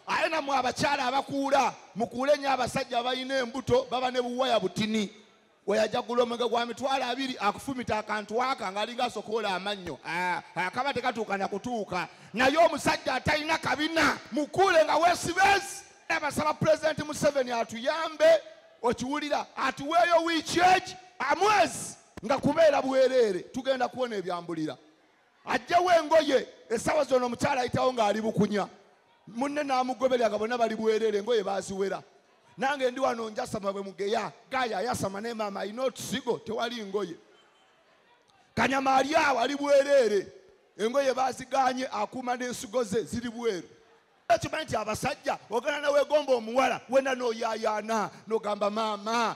aye namwe abakyala abakuula mukuule nyo abasajja abalina embuto baba ne buwaya butini weyajagula omwenge gwa mitwalo abiri akufumita akantu aka ngaalinga asokoola amannyo ah, akaba tekatuuka nakutuuka naye omusajja atalina kabina mukuule nga wesibezi abasaba pulezidenti museveni atuyambe okiwulira atuweeyo wiiki eki amwezi nga kubeera bwereere tugenda kuwona ebyambulira ajjewo engoye esawa zona omukyala ayitawo ng'ali bukunya munne n'amugoberera nga bonna bali bwerere engoye baziwera nange ndi wano njasama bwe mugeya gaya ayasama ne maama alina otusigo tewali ngoye kanyama ali awo ali bwerere engoye baziganye akuuma n'ensigo ze ziri bweru okimanyi nti abasajja ogana nawegomba omuwala wena noyayaana nogamba maama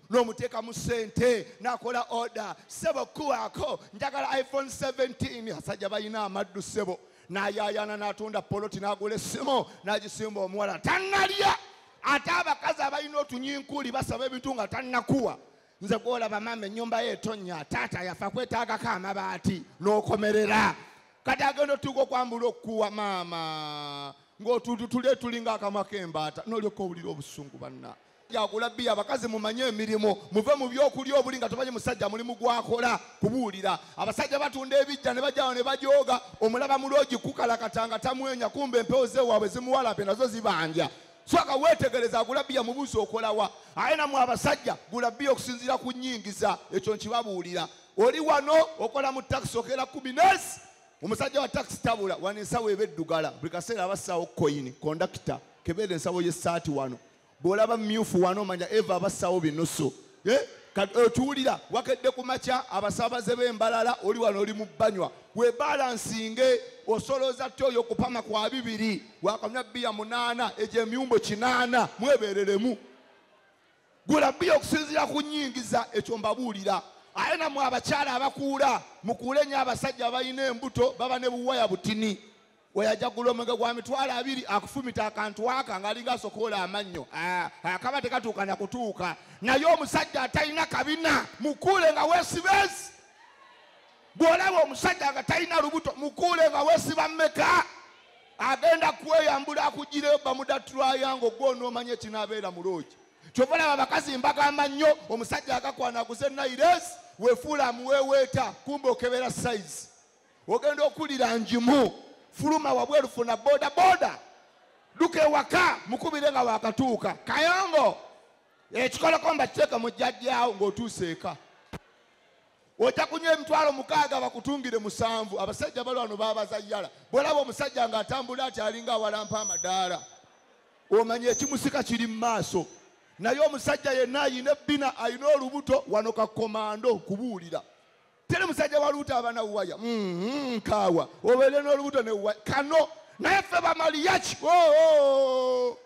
nomuteekamu sente nakola oda sebo kuwaako njagala iphone 17 asajja balina amaddu sebo nayayaana natunda poloti nagula essimu nagisimba omuwala tanalya ate abakazi abalina otunyinkuli basaba ebintu nga tanakuwa nze gwolaba maama enyumba ye etonya taata yafa kwetagako amabaati nokomerera kati agenda otuuka okwambula okukuwa maama ngaotutule tulinga akamwa kembaata nolyoka owulira obusungu banna yagula biya abakazi mumanye emirimu muve mu byokulya obuli nga tomanyi musajja mulimu gwakola kubuulira abasajja batunda ebijja ne bajjawo ne bajooga omulaba mulwogi kukalakata nga tamwenya kumba empewo zewaabwe zimuwalape nazo zibanja soka wetegereza agula biya mubuzi okolawa aye namwe abasajja gula biya okusinziira ku nyingiza ekyo nkibabuulira oli wano okola mu takisi okeera kumi nesi omusajja wa takisi tabula wano ensawo eba eddugala buli kaseera abassaawo koyini kondakita kebeera ensawo y'essaati wano bw'olaba myufu wano omanya eva abassaawo binusu Eh, okiwulira eh, wakedde ku makya abasaabaze b'embalala oli wano oli mu banywa webalansinge osolooza ty oyo okupama kwa bibiri wakanywa bbiya munaana egyo emyumbo kinaana mwebereremu gula bbiya okusinziira ku nyingiza ekyo mbabuulira aye namwe abakyala abakuula mukuule nyo abasajja abalina embuto baba ne buwaya butini weyajaggula omwenge gwa mitwalo abiri akufumita akantu aka ngaalinga asokoola amannyo ah, akaba tekatuuka na kutuuka naye omusajja atalina kabina mukuule nga wesibezi bw'olaba omusajja nga talina lubuto mukuule nga wesiba mmeka agenda kweyambula akugireyo bamuda trayanga ogwo onoomanya ekinaabeera mu loogi kyova laba abakazi mbagamba nnyo omusajja agakwana aguze nairesi wefuula amuweeweeta kumba okebera sayizi ogenda okulira njimu fuluma wabweru funa boda boda duka ewaka mukubire nga wakatuuka kayongo ekikoleko mbakiteeka mu jjajjaawo ng'otuuse eka ojja kunywa emitwalo mukaaga bakutungire musanvu abasajja bali wano babazayyala bwolaba omusajja ng'atambula ati alinga awalampa amadaala omanya ekimusika kiri mu maaso naye omusajja yenna ayina ebbina alina olubuto wano kakomando kubuulira teri musajja wa luuta abana waya mm-hmm, nkaawa obeere n'olubuto ne waya kano naye ffe bamaliyaki oh, oh, oh.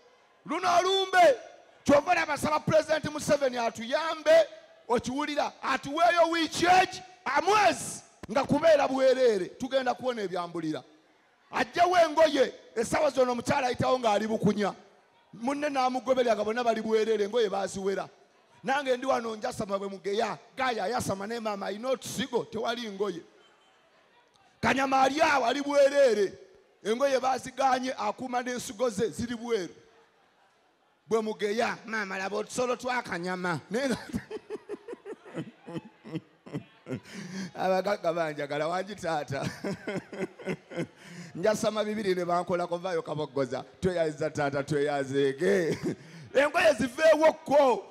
luno olumbe kyova olaba saba pulezidenti museveni atuyambe okiwulira atuweeyo wiiki eki amwezi nga kubeera bwereere tugenda kuwona ebyambulira ajjewo engoye esawa zona omukyala ayitawo ng'ali bukunya munne n'amugoberera nga bonna bali bwerere engoye baziwera nange ndi wano njasama bwe mugeya gaya ayasama naye maama alina otusigo tewali ngoye kanyama ali awo ali bwerere engoye baziganye akuuma n'ensigo ze ziri bweru bwe mugeya maama laba otusolo twakanyama abagagga banjagala wangi taata njasama bibiri ne bankola kuvaayo kaboggoza tweyaziza taata tweyazeege engoye ziveewo kko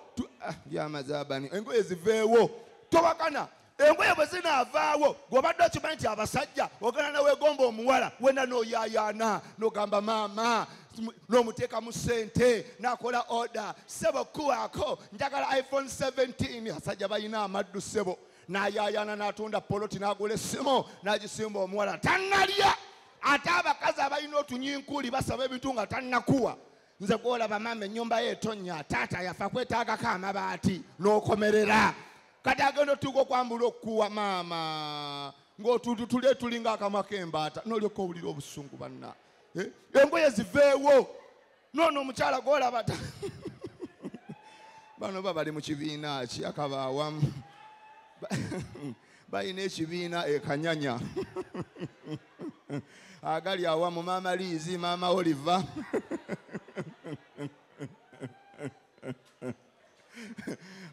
ah, yamazabani engoye ziveewo towakana engoye bwe zinaavaawo gwobadde okimanyi nti abasajja ogana newegomba omuwala wena noyayaana nogamba maama nomuteeka mu sente nakola oda sebo kuwaako njagala iphone 17 asajja balina amaddu sebo nayayaana natunda poloti nagula essimu nagisimba omuwala tanalya ate abakazi abalina otunyinkuli basaba ebintu nga tanakuwa nze gwolaba maama enyumba ye etonya taata yafa kwetagako amabaati nokomerera kati agenda otuuka okwambula okukuwa maama ngaotuntu tuli etulinga akamwa kembaata nolyoka owulira obusungu banna eh? engoye ziveewo noono omukyala gwolaba bano ba bali mu kibiina ki akabaawamu balina ekibiina ekanyanya agali awa mu maama liizi maama oliva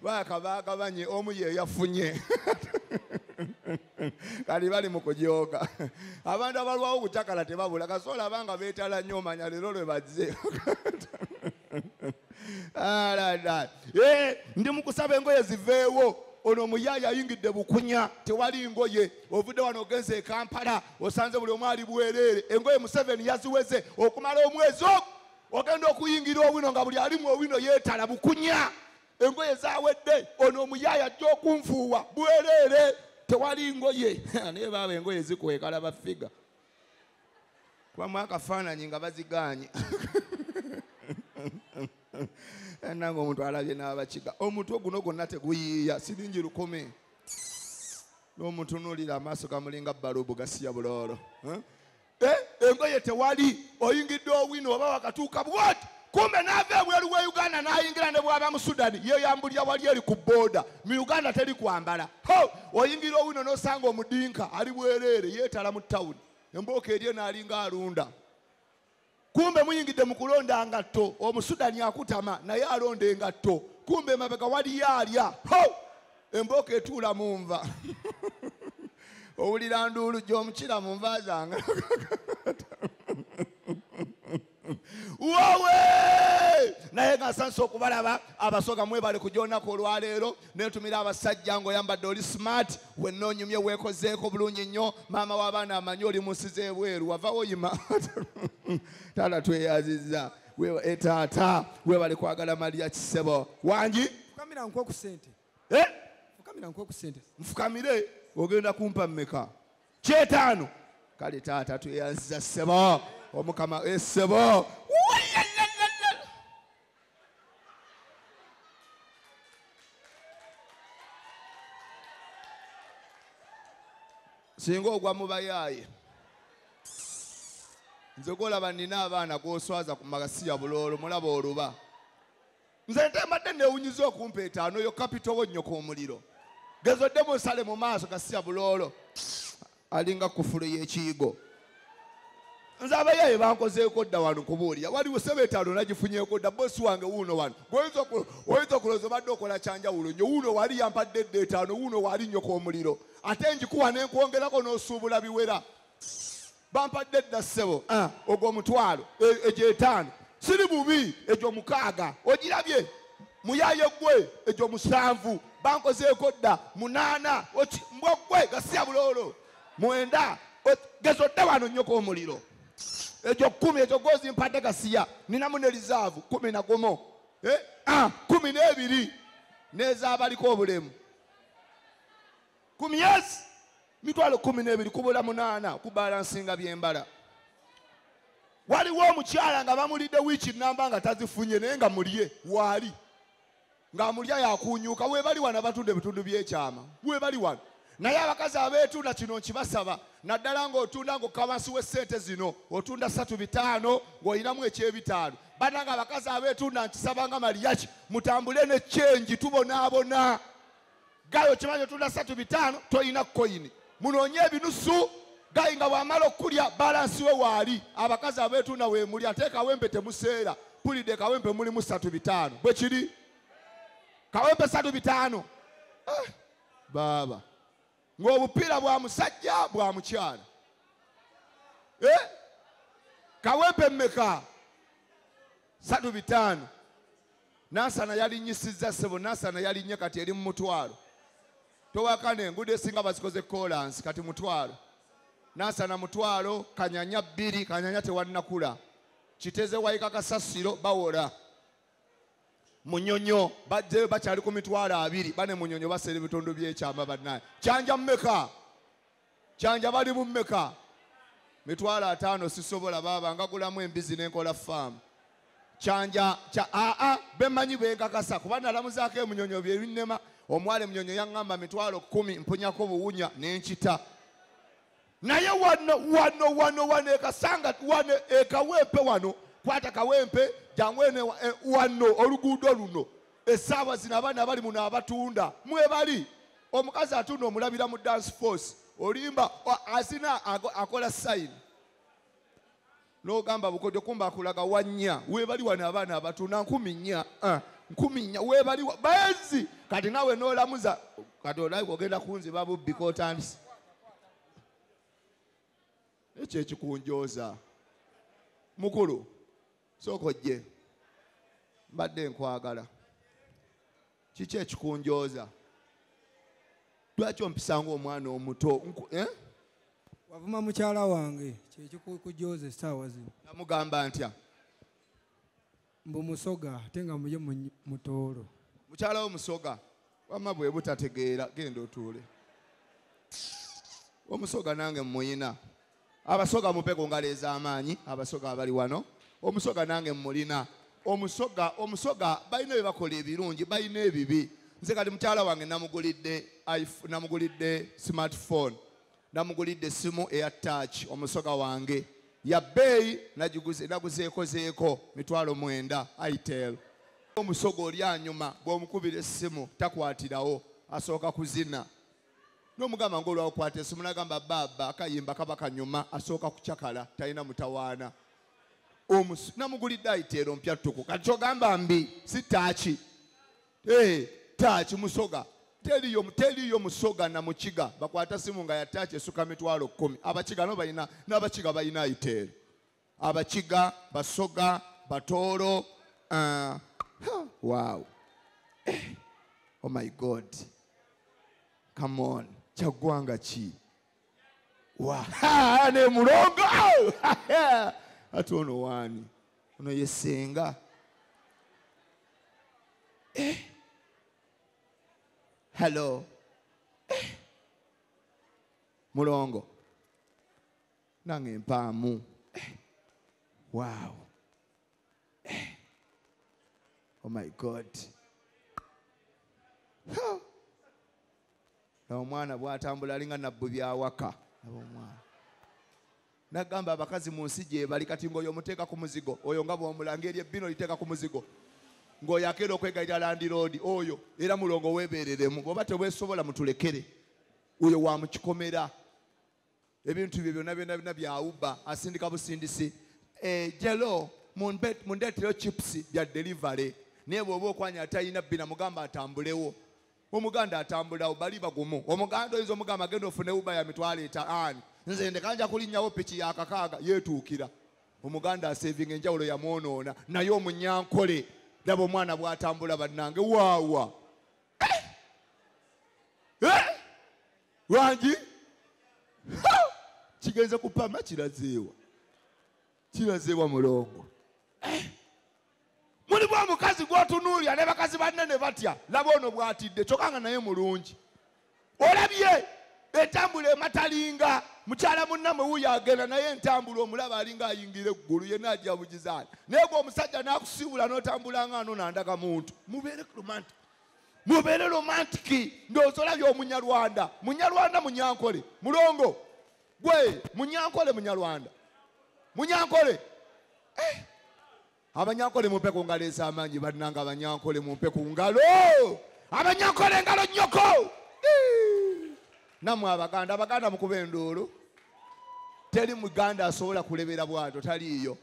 bakabagabanye omu ye yafunye kali bali mu kujooga abantu abalwawo okucakala tebabula kasobola abanga beetala nnyo omanya leero lwe bazze Ah, eh, ndi mukusaba engoye ziveewo ono omuyaaya ayingidde bukunya tewali ngoye ovudde wano ogenze ekampala osanze buli omu ali bwereere engoye museveni yaziweze okumala omwezi ogu ogenda okuyingira owino nga buli alimu owino yeetala bukunya engoye zawedde ono omuyaaya ajja okunfuuwa bwereere tewali ngoye naye baaba engoye zikwekala bafiga kubamu akafaananyi nga bazigaanye nange omuntu alabye n'abakiga omutwe guno gwonna teguyiiya siringi lukumi n'omutunuulira amaaso gamulinga balubu gasiya buloolo eh, engoye tewali oyingidde owino oba wakatuuka bwati kumbe n'ava ebweru wa uganda n'ayingira ne bwaba mu sudani ye yambulira wali eri ku booda mu uganda teri kwambala ho oyingira owino n'osanga omudinka ali bwereere yeetala mu tawuni embooka eri eno alinga alunda kumbe muyingidde mu kulonda ngatto omusudani akutama naye alonda engatto kumbe emabega waliyo alya ho embooka etuula mu nva owulira nduulu gy'omukira mu nva zange wowe naye nga nsanisa okubalaba abasoga mwebale ku gyonaku olwaleero netumira abasajja ngaoyambadde oli smart wenna onyumye wekozeeko bulungi nnyo maama w'abaana amanyi oli munsi z'ebweru wavawo yima taata tweyaziza etaata eh, webale kwagala maliya kisebo wangi fukamira nkwokusente eh? fukamira nkwokusente nfukamire ogenda kumpa mmeka kyetaano kale taata tweyanziza ssebo omukama esebo eh, singa ogwa mubayaaye nze golaba nina abaana goswaza ku magasiya buloolo mulaba oluba nze nte mbadde newunyiza okumpa etaano yo kapito wo nnyoko omuliro gezo odde musale mu maaso gasiya buloolo alinga kufulu y'ekiyigo nze abayaaye bankozeeko dda wano kubuulira waliwo sebe etaano nagifunyeeko dda bosi wange wuuno wano oyinza okulooza obadde okola kyanjawulo nyo wuuno waali yampadde dda etaano wuuno waali nnyoko omuliro ate njikuwa nenkwongerako n'osuubula biwera bampadde dda ssebo ah. ogwo omutwalo e, egyo etaano siri bubi egyo mukaaga ogirabye muyaye gwe egyo musanvu bankozeeko dda munaana mbwa gwe gasiya buloolo mwenda gezo dda wano nnyoko omuliro egyo kumi egyo gozi mpadde gasiya ninamu ne lizaavu kumi na gumu eh, ah, kumi n'ebiri n'ezaabaliko obulemu ku myezi mitwalo kumi n'ebiri kubula munaana okubalansinga byembala waliwo omukyala nga bamulidde wiiki namba nga tazifunye naye nga mulye waali ng'amulya yakuunyuuka webali wano abatunda ebitundu by'ekyama webali wano naye abakazi abeetunda kino nkibasaba naddala ng'otunda ng'okka wansi w'essente zino otunda satu bitaano ng'olinamu ekyebitaano bananga abakazi abeetunda nkisaba nga maliyaki mutambule ne kyengi tubonaabona gayi okimanyi otunda satu bitaano tolina koyini munoonye ebinusu gayi nga bwamala okukulya balansi we waali abakazi abetunda wemuli ate kawempe temuseera pulidde kawempe mulimu satu bitaano bwe kiri kawempe satu bitaano eh, baaba ng'obupiira bwa musajja bwa mukyala eh? kawempe mmeka satu bitaano nasana yalinyisizza sebo nasana yalinye kati eri mu mutwalo towakana enguudo esinga bazikoze kolansi kati mutwalo nasana mutwalo kanyanya bbiri kanyanya tewannakula kiteze wayika kasasiro bawola munyonyo bajjeyo bakyali ku mitwalo abiri bane munyonyo baseera ebitundu byekyamba banaye kyanja mumeka kyanja bali mummeka mitwalo ataano sisobola baaba ngagulamu embizi nenkola faamu kyanja kya aa bemanyi benkakasa kuba nalamuzaako emunyonyo byebinnema omwala emunyonyo yaŋŋamba mitwalo kumi mpunyako buwunya nenkita naye wano wano wano wano ekasanga wano ekawempe wano kwata kawempe jangu ene e, wano oluguudo luno esaawa zino abaana bali muno abatunda mwebali omukazi atunda omulabira mu dance force olimba azina akola sayini nogamba bukodyo kumba akulaga wanya webali wano abaana abatunda nkumi nya ah, nkumi nya webali bezi kati nawe nolamuza kati olabe ogenda kunziba bubbi kotandisi ekyo ekikunjoza mukulu sooka ojje mbadde nkwagala kiki ekikunjooza lwaki ompisa ngaomwana omuto eh? wavuma mukyala wange kyekikujooza essaawa zino namugamba ntya mbu musoga ate nga muye mutoolo mukyala wo musoga wama bwe butategeera genda otuule omusoga nange mumuyina abasoga mupe ku ngalo ez'amaanyi abasoga abali wano omusoga nange mmulina omusoga omusoga balina bye bakola ebirungi balina ebibi nze kati mukyala wange namugulidde namugulidde smartphone namugulidde essimu eya touch omusoga wange ya bbeeyi naguzeekozeeko mitwalo mwenda itel omusoga oli anyuma bw'omukubira essimu takwatirawo asooka kuzina nomugamba ngaolwakwata esimu nagamba baaba akayimba kaba kanyuma asooka kucakala talina mutawaana namugulidde ayiteero mpya ttuku kati kyogamba mbi si taaki eh, taaki musoga teliyo teliyo musoga na mukiga bakwata simu nga yataaki esuka mitwalo kumi abakiga no balina n'abakiga balina ayiteero abakiga basoga batooro uh, huh, wow eh, oh my god come on kyaggwanga ki wa ha, ne mulongo Au! Ha, ha. ate ono waani ono ye senga eh. hello eh. mulongo nange mpaamu eh, wow eh. oh my god omwana bwatambula alinga nabbu byawaka abomwana nagamba abakazi mu nsi gyebali kati ngaoyo omuteeka ku muzigo oyo nga bwomulanga eri ebbino liteeka ku muzigo ngaoyo akeera okwegalira landiroodi oyo era mulongo webereremu oba tewesobola mutulekere oyo wamukikomera ebintu bye byona byona byona byawuba asindika busindisi eh, jelo mundeteyo chips bya delivery naye bwoba okwanya atalina bina mugamba atambulewo omuganda atambulawo bali bagumu omuganda oyinza omugamba agenda ofune uba ya mitwalo etaani nze ndekanja kulinyawo piki ya kakaaga yetuukira omuganda asevinga enjawulo yamwonoona naye omunyankole laba omwana bwatambula bannange waawa Eh? lwangi Ha! kigenze kupama kirazeewa kirazeewa mulongo Eh? mulimu omukazi gwotunuulira ne bakazi banne ne batya laba ono bwatidde kyokka nga naye mulungi olabye entambula ematalinga mukyala munnamwe wuyo agenda naye entambula omulaba alinga ayingira eggulu yenna ajabugizaani naye gwe omusajja n'akusiibula n'otambulanga ano nandaga muntu mubeere romantic mubeere romantiki ndowooza olabye omunyarwanda munyarwanda munyankole mulongo gwe munyankole munyarwanda munyankole eh. abanyankole mumpe ku ngalo ez'amaanyi bannanga abanyankole mumpe ku ngalo abanyankole engalo nnyoko namwe abaganda abaganda mukuba enduulu teri muganda asobola kulebera bwato taliiyo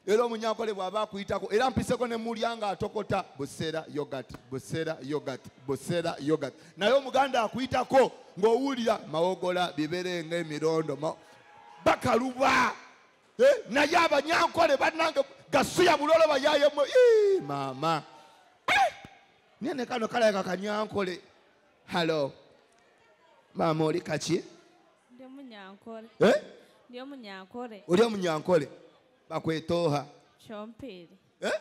era omunyankole bw'aba akuyitako era mpiseko ne mulya nga atokota buseera yogat buseera yogat buseera yogat naye omuganda akuyitako ng'owulira mawogola biberenga emirondo bakaluba Eh, naye abanyankole banange gasiya bulolo bayayemu mama eh, naye nekano kalaga kanyankole halo mama oli kaki eh? oli omunyankole bakwetoha eh?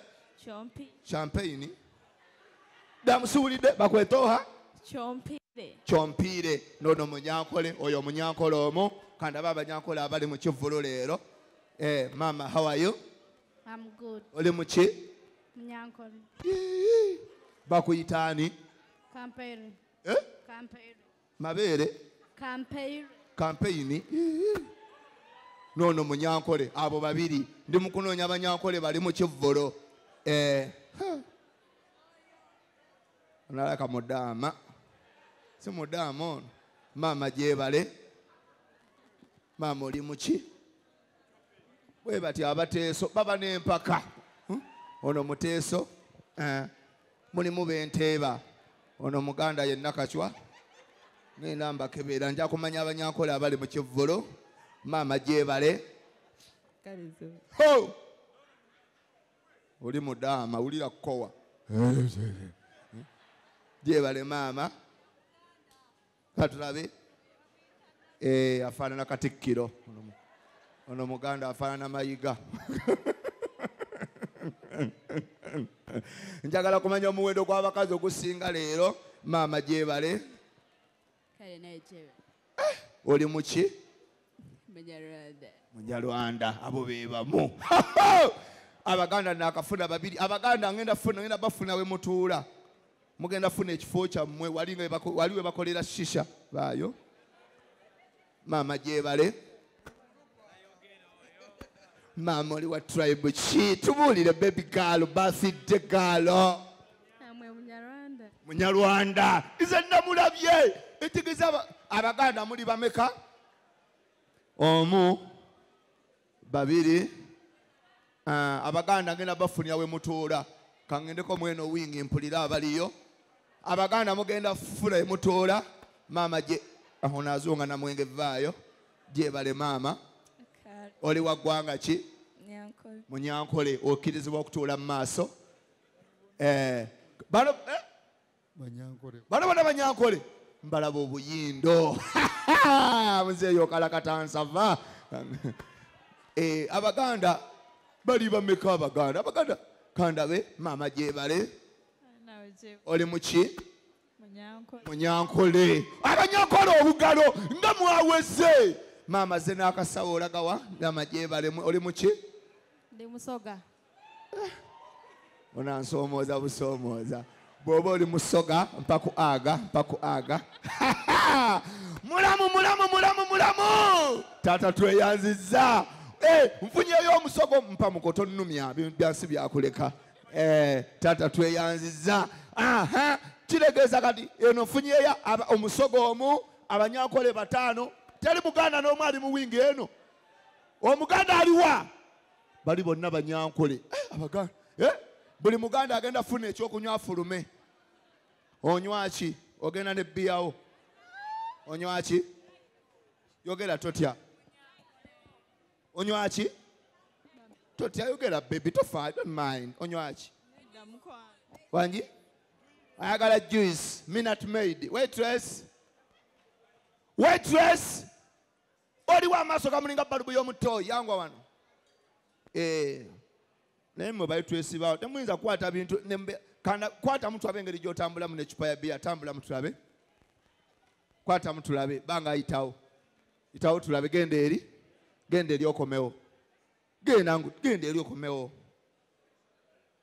Chompi. Champagne. Damusuulidde bakwetooha. Chompire. Chompire. Nono munyankole oyo munyankole omu kandaba abanyankole abali mu kivvulu leero. Eh, mama how are you? I'm good. Oli mu ki? Munyankole. Bakuyita ani? Kampere. Eh? Kampere. mabeere kampeyini noono munyankole abo babiri ndi mukunoonya abanyankole bali mu kivvolo eh, onalaka mudaama si mudaama ono maama gyebale maama oli muki bwe bati abateeso baba n'empaka hmm? ono muteeso eh, mulimu benteeba ono muganda yenna kacwa ngenda mbakebeera nja kumanya abanyankola abali mu kivvulu maama gyebale oli mudaama wulira kukowa gyebale maama katulabe eh, afaanana katikkiro ono muganda afaanana mayiga njagala kumanya omuwendo gw'abakazi ogusinga leero maama gyebale eh, oli muki munyarwanda abo bebamu abaganda nakafuna babiri abaganda ngenda funa ngenda bafuna we mutuula mugenda funa ekifo kyammwe wali we bakolera shisha baayo maama gyebale maama oli wa tribe ki tubuulire bebi gaalo basidde gaalo namwe munyarwanda munyarwanda nze namulabye etegeza abaganda muli bameka omu babiri ah, abaganda ngenda bafunia wemutuula kangendeko mweno wingi mpulira abaliyo abaganda mugenda fula emutuula maama gye aho nazunga namwenge vaayo gyebale maama oli wa ggwanga ki munyankole okkirizibwa okutuula mu maaso eh, bano eh? bano bona banyankole mbalaba obuyindo muzeeyo kalakatansava eh, abaganda bali bameka abaganda abaganda kandabe maama gyebale oli muki munyankole abanyankole obugalo nga mwaweze maama ze n'akasawo olagawa ndama gyebalemu oli muki onansomooza busomooza bwoba oli musoga mpaku aga mpaku aga mulamu mulamu mulamu mulamu taata tweyanziza eh, nfunyeyo omusogo mpa mukoto nnumya byansi byakuleka eh, taata tweyanziza kiregeeza kati eno nfunyeyo omusogo omu abanyankole bataano teri muganda n'omu ali mu wingi eno omuganda aliwa bali bonna banyankole eh, abaganda eh, buli muganda agenda funa ekyokunywa afulume onywaki ogenda ne biyawo onywaki yogera totya onywaki totya yogera bebi tofa don't mind onywaki wangi ayagala juice minut maid waitress waitress oliwo amaaso gamulinga balubu y'omuttooyi yangwa wano eh, naye mwe bali twesibaawo temuyinza kukwata bintu kwata mutulabe engeri gy'otambulamu necupa ya biya tambula mutulabe kwata mutulabe banga ayitawo itawo tulabe genda eri genda eri okomewo genda genda eri okomewo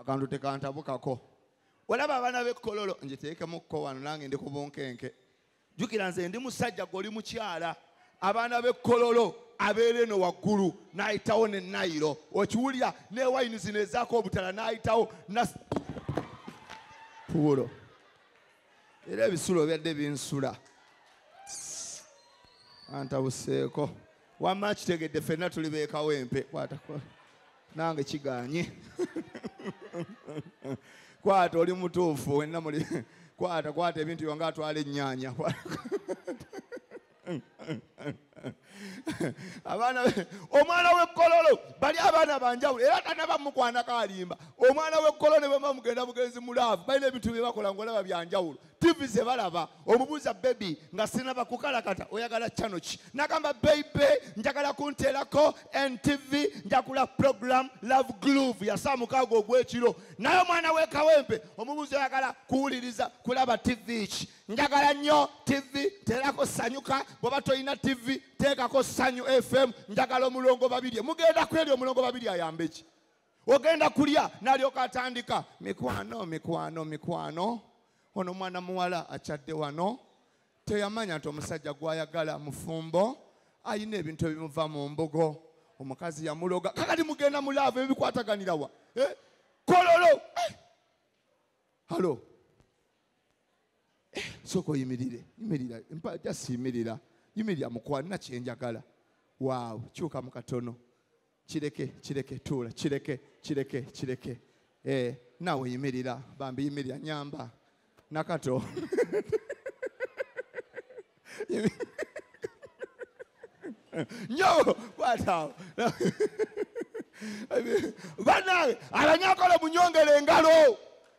akantu tekantabukako olaba abaana bekololo njiteekemukko wano nange ndi kubunkenke jukira nze ndi musajja gwe oli mukyala abaana bekololo abeera eno waggulu n'ayitawo ne nayiro okiwulira ne wayini zino ezaako obutala n'ayitawo puulo era ebisulo byadde binsula antabuseeko wamma kitegedde fenna tuli beekawo empe kwatako nange kiganye kwata oli mutuufu wenna muli kwata kwata ebintu byonga atwala ennyanya abaana omwana w'ekkololo bali abaana banjawulo era tanaba mukwanako alimba omwana w'ekkololo ne bwemba mugenda bugenzi mulaavu balina ebintu bye bakola ngaolaba byanjawulo tivi ze balaba omubuuza bebi nga sinaba kukalakata oyagala kyano ki nagamba beibe njagala kunteerako ntv njagula program love glove yasaamukaago ogwekiro naye omwana wekawempe omubuuza oyagala kuwuliriza kulaba tivi ki njagala nnyo tivi teerako sanyuka bweba tolina tivi teekako sanyu fm njagala omulongo babirye mugenda kweri omulongo babiri ayambe ki ogenda kulya nalyoka atandika mikwano mikwano mikwano ono mwana muwala akyadde wano teyamanya nti omusajja gwayagala mufumbo ayina ebintu ebimuva mu mbugo omukazi yamuloga kakati mugenda mulaavu ebikwataganirawa eh? kololo eh! halo eh, soka oyimirire yimirira jasi yimirira yimirira mukwanina kyenjagala waawo kyuka mukatono kireke kireke tuula kireke kireke kireke eh, naawe yimirira bambi yimirira nyamba nakato nyo kwataawo banange abanyakola munyongera engalo